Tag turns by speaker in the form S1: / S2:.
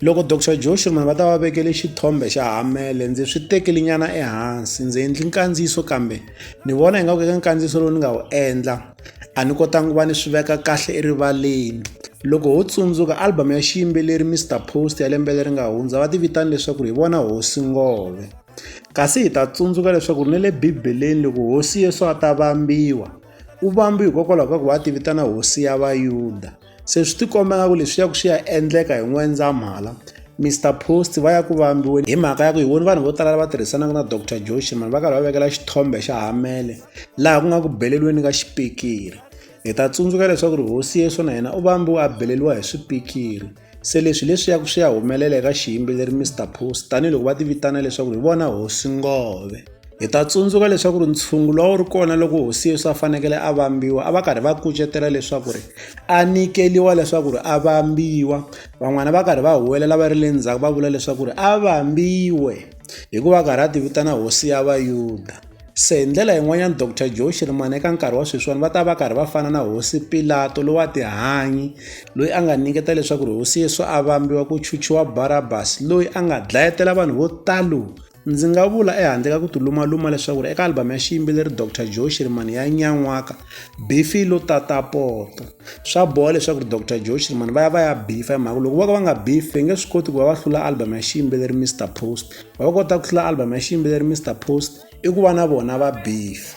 S1: Loko Doctor Joe Schoeman va ta va vekele xithombe xa Hamele ndzi swi tekeli nyana ehansi ndzi endli nkandziyiso kambe ni vona ingaku eka nkandziyiso lowu ni nga wu endla a ni kotanga ku va ni swi veka kahle erivaleni loko ho tsundzuka album ya xiyimbeleri Mister Post ya lembe leri nga hundza va ti vitana leswaku hi vona hosi ngove kasi hi ta tsundzuka leswaku ni le bibeleni loko hosi Yesu a ta vambiwa u vambiwa hikokwalaho ka ku va a ti vitana hosi ya vayuda Se swi tikomba nga ku leswi ya ku swi ya endleka hi N'wendzamhala Mr Post va ya ku vambiweni hi mhaka ya ku hi voni vanhu vo tala lava tirhisanaka na Dr Joshi mani va karhi va vekela xithombe xa Hamele laha ku nga ku beleliweni ka xipikiri hi ta tsundzuka leswaku ri hosi Yesu na yena u vambiwe a beleliwa hi swipikiri se leswi leswi ya ku swi ya humelela eka xiyimbeleri Mr Post tanihiloko va ti vitana leswaku hi vona hosi ngove Hi ta tsundzuka leswaku ri ntshungu lowu a wu ri kona loko hosi Yesu a fanekele a vambiwa a va karhi va kucetela leswaku ri a nyikeliwa leswaku ri a vambiwa van'wana va karhi va huwelela va ri le ndzhaku va vula leswaku ri a vambiwe hikuva karhi a ti vitana hosi ya vayuda se hi ndlela yin'wanyana dr joe xirimana eka nkarhi wa sweswiwani va ta va karhi va fana na hosi pilato lowu a tihanyi loyi a nga nyiketa leswaku ri hosi yesu a vambiwa ku chuchiwa barabas loyi a nga dlayetela vanhu vo talo ndzi nga vula ehandle ka ku ti lumaluma leswaku ri eka albhamu ya xiyimbeleri dr joe shirimani ya nyan'waka bifi lo tata poto swa boha leswaku ri dr joe shirimani va ya va ya bifa hi mhaka loko vo ka va nga bifi va nge swi koti ku va va hlula albhamu ya xiyimbeleri mr post va va kota ku hlula albhamu ya xiyimbeleri mr post i ku va na vona va bifa